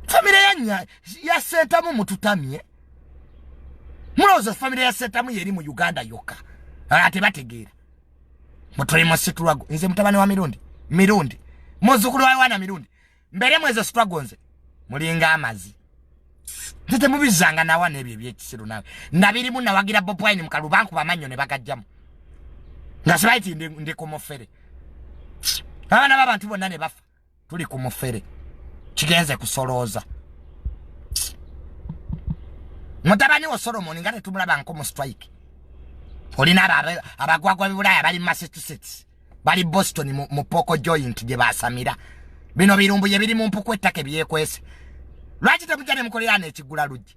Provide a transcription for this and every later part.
famire yanya ya sentamu mututamye mulowooza famire ya sentamu yeri mu uganda yokka ate bategeera mutuli mu situlago nze mutabani wa mirundi mirundi muzukulu wa yowana mirundi mbeeremu ezo situlago nze mulinga amazi nze temubizanga nawa n'ebyo ebyekisiru nawe nabirimu nawagira bobwine mukalu bankuba amannyo ne bagajjamu nga sibaiti ndi kumufere abaana babantu bonna ne bafa tuli ku mufere kigenze kusolooza mutabani wo solomoni nga tetumulabanko mu strike olina abagwagwa bibulaaya bali massachusetts bali boston mu poko joint gye basamira bino birumbu ye biri mu mpuku ettaka ebyekwese lwaki temuja ne mukolera neekigula luggi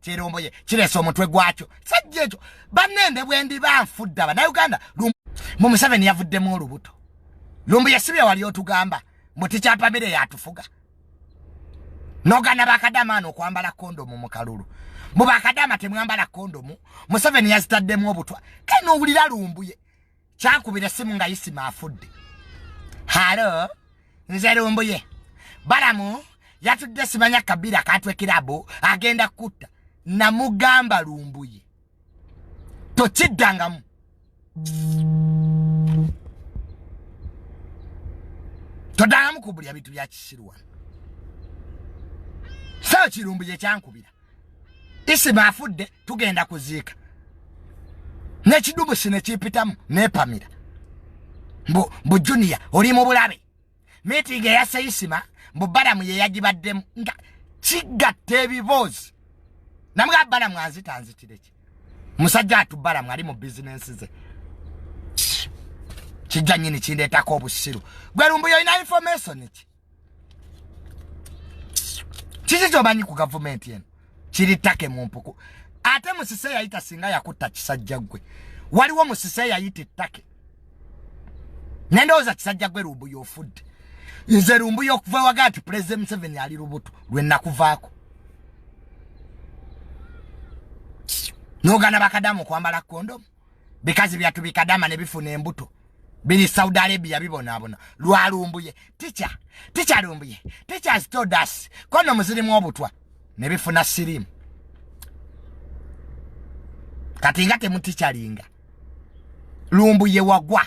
kyeromboye kiresa omutwe gwakyo sajja ekyo banende bwendi banfudde abanauganda mu museveni yavuddemu olubuto lumbu yesibye wali otugamba mbu tikyapamire yatufuga nogana bakadama ano okwambala kondomu mu kalulu mbu bakadama temwambala kondomu museveni yazitaddemu obutwa kale nowulira lumbuye kyakubira simu nga isima afudde halo nze lumbuye balamu yatudde simanya kabira katwe kirabo agenda kutta namugamba lumbuye tokiddangamu todangamu kubulya bintu byakisiru wano saa kirumbuye kyankubira isima afudde tugenda kuziika nekidumusi nekipitamu nepamira mbu mbu junior oli mu bulabe mitingi eyase isima mbu balamu yeyagibaddemu nga kigatta ebiboozi namga balamu anzita nzitireki musajja atu balamu ali mu bizinensi ze kijja nyini kindeetako obusiru gwe lumbuyo ina information ki kiki kyomanyi ku gavumenti eno kiri take mu mpuku ate musise yayita singa yakutta kisajja gwe waliwo musise yayita ettake nendowooza kisajja gwe lumbu yofudde nze lumbu yokuva waga nti pulezidenti museveni ali lubuto lwenakuvaako nogana bakadamu okwambala kondomu bikazi byatu bikadama ne bifuna embuto bini saudi arabia bibonaabona lwalumbuye ticha ticha lumbuye ticha stodas kono muzirimu obutwa ne bifuna sirimu kati nga temutikyalinga lumbuye wagwa